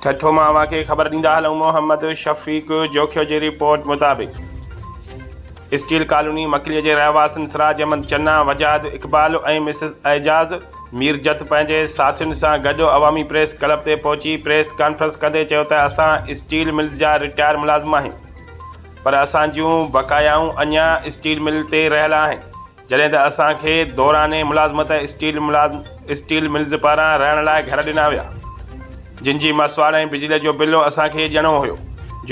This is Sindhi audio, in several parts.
ٺٽو مان اوهان کي خبر ڏيندا هلون محمد شفيق جوکيو جي رپورٽ مطابق اسٽيل ڪالوني مڪلي جي رهواسين سراج احمد چنا، وجاهت اقبال ۽ مسز اعجاز ميرجت پنهنجي ساٿين سان گڏ عوامي پريس ڪلب تي پهچي پريس ڪانفرنس ڪندي چيو ته اسان اسٽيل ملز جا رٽائر ملازم آهيون پر اسان جون بقايائون اڃا اسٽيل مل تي رهيل آهن. جڏهن ته اسان کي دوران ملازمت اسٽيل ملازم اسٽيل ملز پاران رهڻ لاء گهر ڏنا ويا جن جي مسواڙ ۽ بجلي جو بل اسان کي ڏيڻو هيو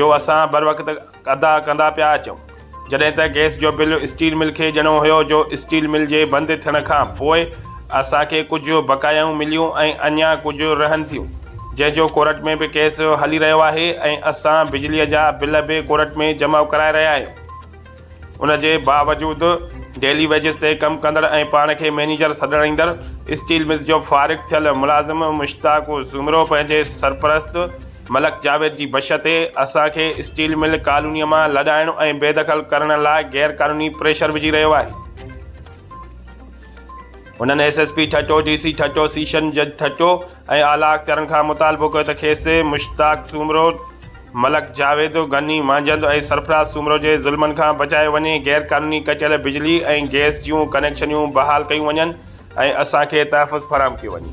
جو اسان بروقت ادا ڪندا پيا اچون جڏهن ته گئس جو بل اسٽيل مل کي ڏيڻو هيو جو اسٽيل مل جي بند ٿيڻ کان پوء اسان کي ڪجهه بقايائون مليون ۽ اڃا ڪجهه رهن ٿيون جنهن جو ڪورٽ ۾ به ڪيس هلي رهيو آهي ۽ اسان بجلي جا بل به ڪورٽ ۾ جمع ڪرائي رهيا آهيون. ان جي باوجود ڊيلي ويجز تي ڪم ڪندڙ ۽ پاڻ کي مئنيجر سڏرائيندڙ اسٽيل ملز جو فارغ ٿيل ملازم مشتاق سومرو پنهنجي سرپرست ملڪ جاويد جي بش تي اسان کي اسٽيل مل ڪالونيء مان لڏائڻ ۽ بيدخل ڪرڻ لاء غيرقانوني پريشر وجهي رهيو آهي. هنن S S P Thatta, D C Thatta, session جج ٺٽو، ۽ اعليٰ اختيارن کان مطالبو ڪيو ته کيس مشتاق سومرو، ملڪ جاويد، غني مانجهند ۽ سرفراز سومرو جي ظلمن کان بچايو وڃي، غير قانوني ڪٽيل بجلي ۽ گئس جون ڪنيڪشنيون بحال ڪيون وڃن ۽ اسان کي تحفظ فراهم ڪيو وڃي.